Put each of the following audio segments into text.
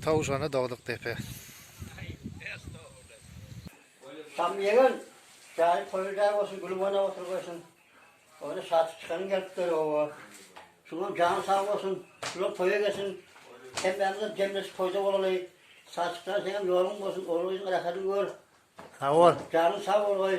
Towşana dogduk depe. Tam ýegen janyň toýy jaý bolsun gülüp oýnap oturgaýsyn. Ony satyp çykanyň gelipdir oba. Şuňam jany sag bolsun. Şular toýa gelsin. Hemmämizem jemleşip toýda bolaly. Saçykjan seňem ýoluň bolsun ogul gyzyň rahadyny gör. Sag bol. Janyň sag bolgaý.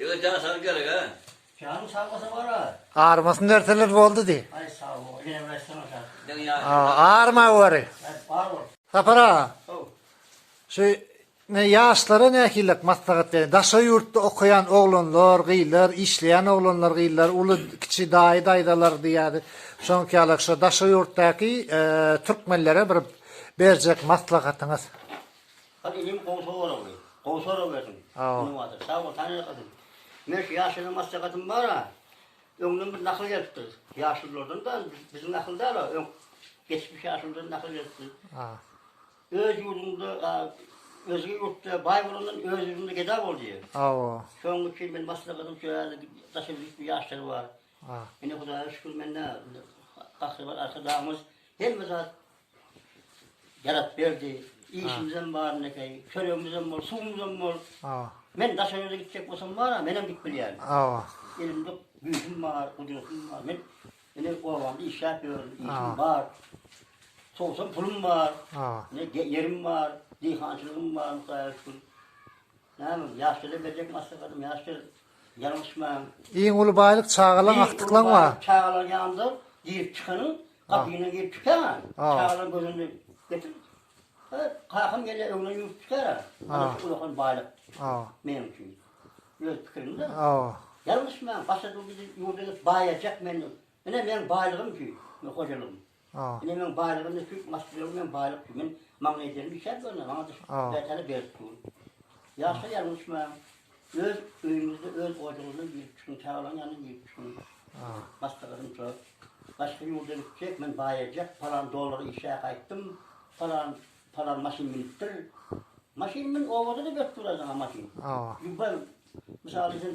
Ýigit jana sag gerek a. Janyň sag bolsa bar a. Armasyn berseler boldy diý. Aý sag bol. Ýene bir aýtsaň aşa. Diňe ýa. A, arma wari. Aý bar bol. Sapar aga. How. Şu ne ýaşlara nähilek maslahat beriň. Daşary ýurtda okaýan oglanlar, gyzlar, işleýän oglanlar, gyzlar, uly, kiçi daýy, daýzalar diýýädi. Şoňky ýalak şo daşary ýurtdaky türkmenlere bir berjek maslahatyňyz. Hany inim gowy soragdy. Gowy sorag berdiň. Sag ol. Sag bol sany ýakasyn. Men şu ýaşlylara maslahatym bara. Öňden bir nakyl gelipdir. Ýaşlylardan da biziň nakyl däl o. Öň geçmiş ýaşlylardan nakyl gelipdir. Öz ýurduňda özge ýurtda baý bolandan öz ýurduňda geda bol diýýär. Hawa. Şonuň üçin men maslahatym şu ýaly daşa gitme ýaşlar bar. Ine Hudaýa şükür mende gahryman arkadagymyz hemme zat Beratberdi, işimizem bar nekeý, çöregimizem bol, suwumyzam bol. Hawa. Men Daşoguzda gitjek bolsam bar-a, menem gidip bilýärin. Hawa. Elimde güýjüm bar, gudratym bar. Men indi obamda işläp ýörün, işim bar. Sowsam pulum bar. Hawa. Ýerim bar, diýhançylygym bar, Hudaýa şükür. Näme, ýaşuly berjek maslahatym, ýaşul, ýalňyşmaň. Iň uly baýlyk çagalaň, agtyklaň bar. Çagalaň ýanynda girip çykanyň, gapyňdan girip çykaňa, çagalaň gözünde getir. Kakam gelýär, öňüne ýuwup çykar. Ana şu ullakan baýlyk. Meniň üçin. Öz pikirimde. Ýalňyşmaň, başga ýurda gidip baýajak menden. Ine meniň baýlygym şu, hojalygym. A. Ine meň baýlygym indi şu maşyn ýok, meň baýlyk şu, men maňa ederim işläp ýörün, maňa da şu bätele berip dur. Ýaşaýalyň uçmaň. Öz öýüňizde, öz ojagyňyzdan girip çykyň, çagalaryň ýanyna girip çykyň. A. Başga gyzym şo, başga ýurda gitjek, men baýajak, palan dollara işläp gaýtdym, palan, palan maşyn münüpdir. Maşyn mün, obada-da berip duraýsaň-a maşyn. A. Ýuwbar, mysal üçin,